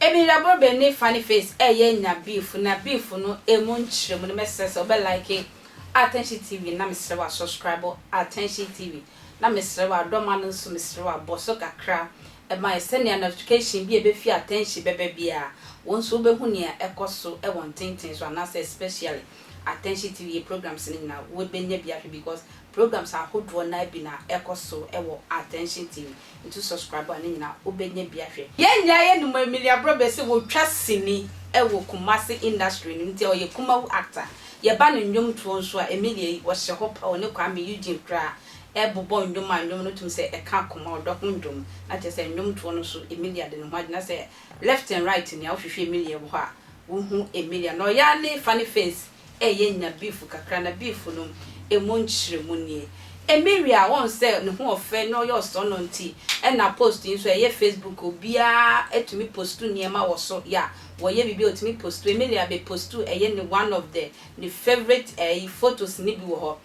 Ebirabɔ bɛ ne funny face ɛyɛ nya beef na beef no ɛmu nkyerɛmu no mɛsrɛ sɛ wobɛ like Attention TV na mesrɛ wo a subscribe Attention TV na mesrɛ wo a dɔ ma no nso mesrɛ wo a bɔ so kakra ɛmae sɛnea notification bi a ebefi attention bɛba biara, wo nso wubehu nea ɛkɔ so wɔ ntenten so anaasɛ especially attention TV programs no nyinaa wubenya bi ahwɛ because programs ahodoɔ no ara bi na ɛkɔ so wɔ attention TV nti wo subscribe a ne nyinaa wobenya bi ahwɛ. Yɛn nyinaa yɛnim Emilia Abrobɛ sɛ otwa sini wɔ Kumasi industry no mu nti ɔyɛ kumawu actor. Yɛba ne nnwomtoɔ nso a Emilia yi ɔhyɛ hɔ paa ɔne Kwame Eugene koraa bobɔ ndwom a ndwom no tum sɛ ɛkã akoma ɔdɔ ho ndwom, na kyerɛ sɛ ndwomtoɔ no so Emilia de ne ho agye, na sɛ left and right nea wohwehwɛ Emilia wɔ hɔ a wohu Emilia, na ɔyɛ ara ne funny face ɛyɛ nya beef kakra, na beef no emu nkyerɛmu nie, Emilia wɔn sɛ ne ho ɔfɛ na ɔyɛ ɔsɔnnɔ nti ɛna post yi nso ɛyɛ Facebook obiara tumi postu nneɛma wɔ so ya wɔyɛ biribi a ɔtumi postu, Emilia bɛ postu ɛyɛ ne one of the ne favourite ɛyi photos no bi wɔ hɔ.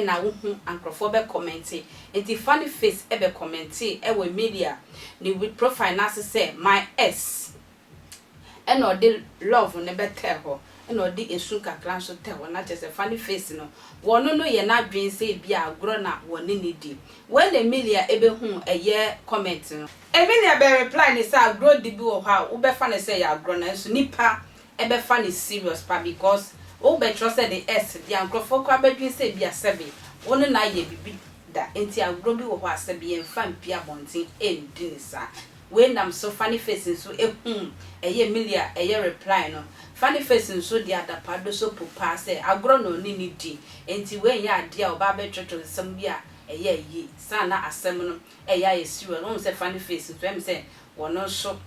na wo hu a nkorɔfoɔ bɛ kɔmɛnte nti funny face bɛ kɔmɛntee wɔ Emilia ne with profile no ase sɛ my ex na ɔde love no bɛ tɛɛ hɔ na ɔde esu kakra nso tɛɛ hɔ na kyerɛ sɛ funny face no wɔ no no yɛ no adwene sɛ ebi a agorɔ na wɔ ne no di wɛn Emilia bɛ hu ɛyɛ kɔmɛnt no Emilia bɛ reply no sɛ agorɔ di bi wɔ hɔ a wo bɛ fa no sɛ ɛyɛ agorɔ nanso nipa ɛbɛfa no serious paa because wo bɛ kyerɛ sɛ de ɛs dea nkorɔfoɔ koraa bɛ dwen sɛ ebia sɛbe wo ne no ayɛ bibi da nti agorɔ bi wɔ hɔ a sɛbe yɛn fa mpie abɔnten ɛndi no saa wei nam so funny face nso ɛhumm ɛyɛ milia ɛyɛ reply no funny face nso de adapa do so po paa sɛ agorɔ na ɔne no di nti wei nyɛ adeɛ a ɔbaa bɛ twɛtwɛ nsɛm bi a ɛyɛ ayi saa na asɛm no ɛyɛ ayɛ serious wohu sɛ funny face nso ɛm sɛ wɔno nso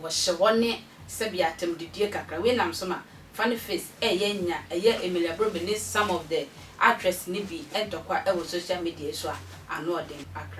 wɔhyɛ hɔ ne sɛbea atɛmdidie kakra wei nam so ma funny face ɛyɛ nya ɛyɛ Emilia Brobe ne some of the actress no bi ntɔkwa ɛwɔ social media yi so a ano ɔden akra.